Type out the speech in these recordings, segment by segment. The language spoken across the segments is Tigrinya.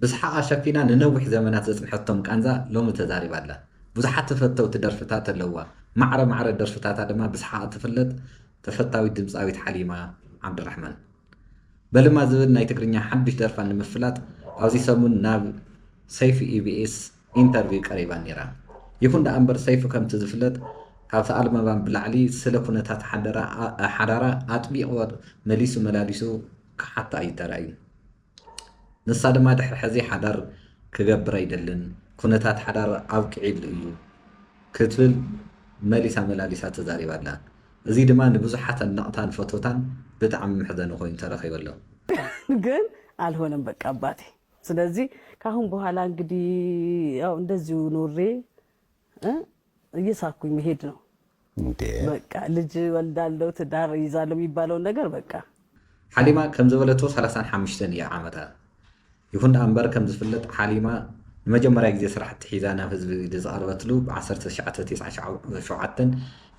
ብስሓቓ ሸፊና ንነዊሕ ዘመናት ዘጽንሐቶም ቃንዛ ሎሚ ተዛሪባ ኣላ። ብዙሓት ተፈተውቲ ደርፍታት ኣለዉዋ። ማዕረ ማዕረ ደርፍታታ ድማ ብስሓቕ እትፍለጥ ተፈታዊት ድምጻዊት ሓሊማ ዓብዱራሕማን። በልማ ዝብል ናይ ትግርኛ ሓድሽ ደርፋ ንምፍላጥ ኣብዚ ሰሙን ናብ ሰይፉ ኢቢኤስ ኢንተርቪው ቀሪባ ነይራ። ይኹን ደኣምበር ሰይፉ ከምቲ ዝፍለጥ ካብ ተኣልመባም ብላዕሊ ስለ ኩነታት ሓዳራ ኣጥቢቑ መሊሱ መላሊሱ ክሓታ እዩ ተራእዩ። ንሳ ድማ ድሕሪ ሕዚ ሓዳር ክገብር ኣይደልን፣ ኩነታት ሓዳር ኣብቂዒሉ እዩ ክትብል መሊሳ መላሊሳ ተዛሪባ ኣላ። እዚ ድማ ንብዙሓት ኣድነቕታን ፈተውታን ብጣዕሚ መሕዘኒ ኮይኑ ተረኺቡ ኣሎ። ግን ኣልሆነም በቃ ኣባቴ ስለዚ ካሁን በኋላ እንግዲህ ያው እንደዚሁ ኖሬ እ እየሳኩኝ መሄድ ነው እንዴ በቃ ልጅ ወልዳለው ትዳር ይዛለው የሚባለውን ነገር በቃ ሓሊማ ከም ዝበለቶ ሰላሳን ሓምሽተን እያ ዓመታ። ይኹን ደኣ እምበር ከም ዝፍለጥ ሓሊማ ንመጀመርያ ግዜ ስራሕቲ ሒዛ ናብ ህዝቢ ዝቐርበትሉ ብ ዓሰርተ ትሽዓተ ቴስዓን ሸውዓተን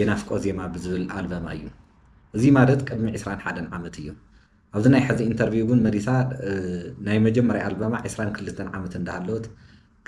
የናፍቆ ዜማ ብዝብል ኣልበማ እዩ። እዚ ማለት ቅድሚ ዕስራን ሓደን ዓመት እዩ። ኣብዚ ናይ ሐዚ ኢንተርቪው ግን መሊሳ ናይ መጀመርያ ኣልበማ ዕስራን ክልተን ዓመት እንዳሃለወት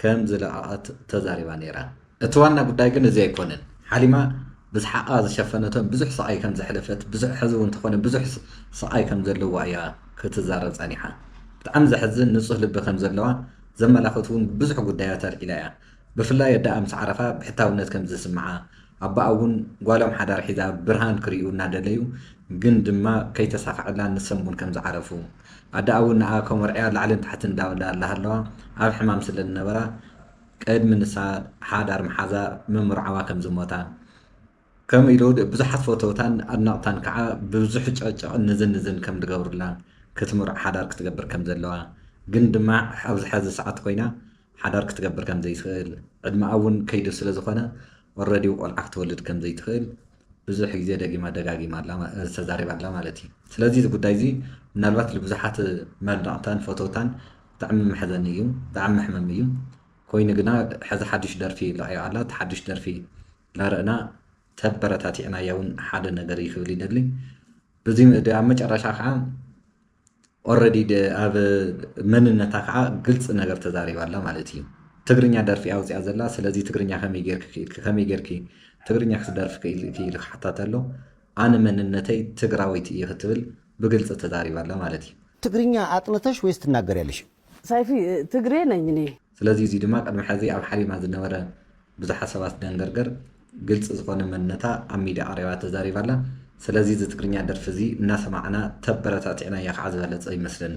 ከም ዝለቀቀት ተዛሪባ ነይራ። እቲ ዋና ጉዳይ ግን እዚ ኣይኮነን። ሓሊማ ብስሓቃ ዝሸፈነቶን ብዙሕ ስቃይ ከም ዘሕለፈት ብዙሕ ሐዚ እውን ተኾነ ብዙሕ ስቃይ ከም ዘለዋ እያ ክትዛረብ ፀኒሓ። ብጣዕሚ ዘሕዝን ንፁህ ልቢ ከም ዘለዋ ዘመላኽት እውን ብዙሕ ጉዳያት ኣልዒላ እያ። ብፍላይ ኣደኣ ምስ ዓረፋ ብሕታውነት ከም ዝስምዓ፣ ኣቦኣ እውን ጓሎም ሓዳር ሒዛ ብርሃን ክርእዩ እናደለዩ ግን ድማ ከይተሳኽዐላ ንሶም እውን ከም ዝዓረፉ፣ ኣደኣ እውን ንኣ ከመርዕያ ላዕልን ታሕትን እንዳበላ ላሃለዋ ኣብ ሕማም ስለ ዝነበራ ቅድሚ ንሳ ሓዳር ምሓዛ ምምርዓዋ ከም ዝሞታ፣ ከምኡ ኢሉ ብዙሓት ፈተውታን ኣድነቕታን ከኣ ብብዙሕ ጨቕጨቕን ንዝንዝን ከም ዝገብሩላ፣ ክትምርዖ ሓዳር ክትገብር ከም ዘለዋ፣ ግን ድማ ኣብዚ ሐዚ ሰዓት ኮይና ሓዳር ክትገብር ከም ዘይትኽእል፣ ዕድመኣ እውን ከይዱ ስለ ዝኾነ ኦረዲ ቆልዓ ክትወልድ ከም ዘይትኽእል ብዙሕ ግዜ ደጊማ ደጋጊማ ተዛሪባ ኣላ ማለት እዩ። ስለዚ እዚ ጉዳይ እዚ ምናልባት ልብዙሓት ኣድነቕታን ፈተውታን ብጣዕሚ መሕዘኒ እዩ፣ ብጣዕሚ መሕመሚ እዩ፣ ኮይኑ ግና ሐዚ ሓዱሽ ደርፊ ለቒቓ ኣላ፣ እቲ ሓዱሽ ደርፊ ናርእና ተበረታቲዕናያ ውን ሓደ ነገር እዩ ክብል ይደሊ በዚ ኣብ መጨረሻ ከዓ ኦረዲ ኣብ መንነታ ከዓ ግልፂ ነገር ተዛሪባ ኣላ ማለት እዩ ትግርኛ ደርፊ እያ ኣውፅኣ ዘላ ስለዚ ትግርኛ ከመይ ጌርኪ ክኢልኪ ከመይ ጌርኪ ትግርኛ ክትደርፊ ክኢልኪ ኢሉ ክሓታተ ኣሎ ኣነ መንነተይ ትግራወይቲ እየ ክትብል ብግልፂ ተዛሪባ ኣላ ማለት እዩ ትግርኛ ኣጥንተሽ ወይስ ትናገሪያለሽ? ሳይፊ ትግሬ ነኝ እኔ። ስለዚ እዚ ድማ ቅድሚ ሐዚ ኣብ ሓሪማ ዝነበረ ብዙሓት ሰባት ደንገርገር ግልፂ ዝኾነ መንነታ ኣብ ሚድያ ቀሪባ ተዛሪባ ኣላ ስለዚ እዚ ትግርኛ ደርፊ እዚ እናሰማዕና ተበረታቲዕናያ ከዓ ዝበለፀ ይመስለኒ።